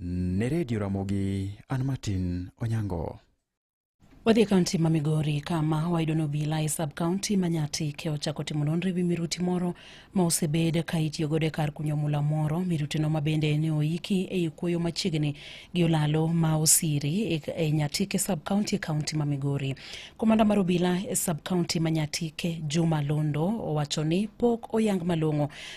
Ne redio Ramogi, an Martin Onyango. Wadhi e kaunti ma Migori kama wayudo ni obila e sub kaunti ma Nyati ke ochako timo nonro e wi miruti moro ma osebed ka itiyo godo e kar kunyo mula moro. Mirutino ma bende ne oiki e i kuoyo machiegni gi olalo ma Osiri e, e Nyati ke sub kaunti e kaunti ma Migori. Komanda mar obila e sub kaunti ma Nyati ke Juma Londo owacho ni pok oyang malong'o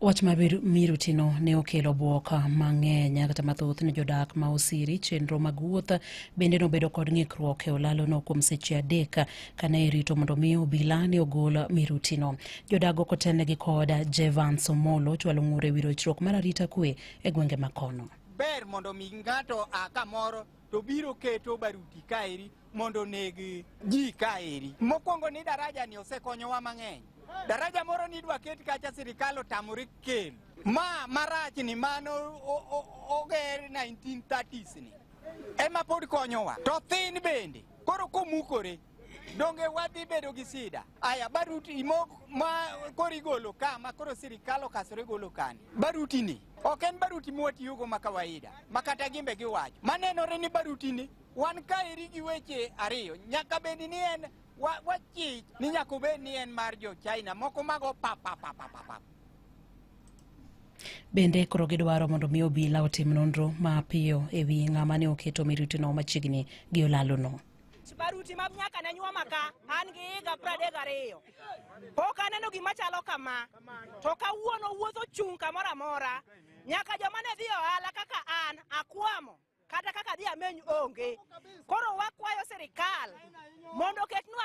Wach ma mirutino ne okelo bwok mang'eny kata mathoth ne jodak ma Osiri. Chenro mag wuoth bende nobedo kod ng'ikruok e olalono kuom seche adek kane irito mondo mi obila ne ogol mirutino. Jodak ok otelnegi kod Jevans Omolo chwalo ng'ur e wi rochruok mar arita kwe e gwenge ma kono. Ber mondo mi ng'ato a kamoro to biro keto baruti kaeri mondo oneg ji kaeri. Mokwongo ni daraja ni osekonyowa mang'eny. Daraja moro ni idwa ket kacha sirikal otamore kelo. Ma marach ni mano oger 1930s ni ema pod konyowa to thin bende koro komukore donge wadhi bedo gi sida aya baruti imo ma koro igolo ka ma koro sirikal okasore golo kani baruti ni ok en baruti mwatiyogo ma kawaida ma kata gimbe giwacho manenore ni baruti ni Wan kaeri gi weche ariyo, nyaka bed ni en wachich wa ni nyaka obed ni en mar jo China moko mago papapapapap. Bende koro gidwaro mondo mi obila otim nonro mapiyo e wi ng'ama ne oketo mirutino machiegni gi olalono. baruti mag nyaka ne nyuoma ka an gi higa pradek ariyo pok aneno gima chalo kama to kawuono wuotho chung' kamoro amora nyaka joma ne dhi ohala kaka an akwamo kata kaka dhi ameny onge. Koro wakwayo sirikal mondo oketnwa